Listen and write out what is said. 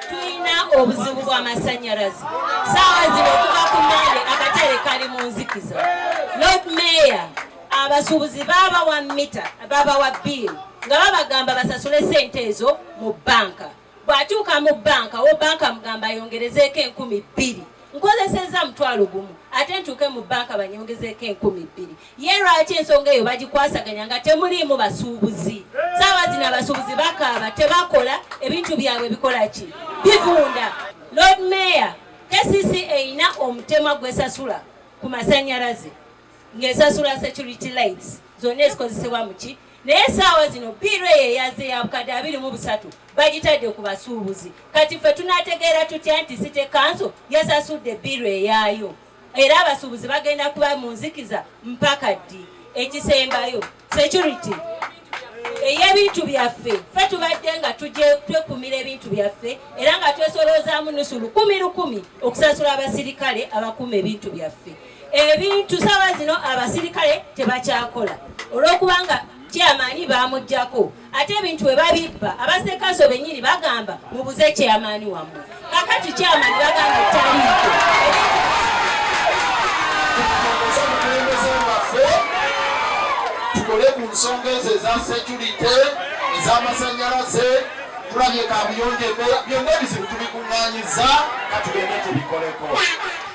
tulina obuzibu bw'amasannyalaze saawa zino okuva ku mande akatere kali mu nzikiza lord mayor abasuubuzi babawa mita babawa biiru nga babagamba basasule sente ezo mu banka bw'atuuka mu banka wo banka mugamba ayongerezeeko enkumi bbiri nkozesezza mutwalo gumu ate ntuuke mu banka banyongezeeko enkumi bbiri Ye lwaki ensonga eyo bagikwasaganya nga temuliimu basuubuzi? Saawa zino abasuubuzi bakaaba, tebakola, ebintu byabwe bikola ki? Bivunda. Lord Mayor, KCC erina omutemwa gwesasula ku masanyalaze ng'esasula security lights zonna ezikozesebwa muki naye saawa zino biiro eyo eyaze ya bukadde abiri mu busatu bagitadde ku basuubuzi kati ffe tunategeera tutya nti site kanso yasasudde biiro eyaayo era abasuubuzi bagenda kuba mu nzikiza mpaka ddi ekisembayo security ey'ebintu byaffe fe tubadde nga tujje twekumira ebintu byaffe era nga twesoloozaamu nusu lukumi lukumi okusasula abasirikale abakuuma ebintu byaffe ebintu saawa zino abasirikale tebakyakola olw'okubanga kyamaanyi baamugyako ate ebintu bwe babibba abasekanso bennyini bagamba mubuze kyamaani wammwe kakati kyamaani bagamba taliiko tukole ku nsonga ezo eza securite ez'amasannyalaze tulabye kabuyonjo byonna ebizibu tubikuŋŋanyiza katugende tubikoleko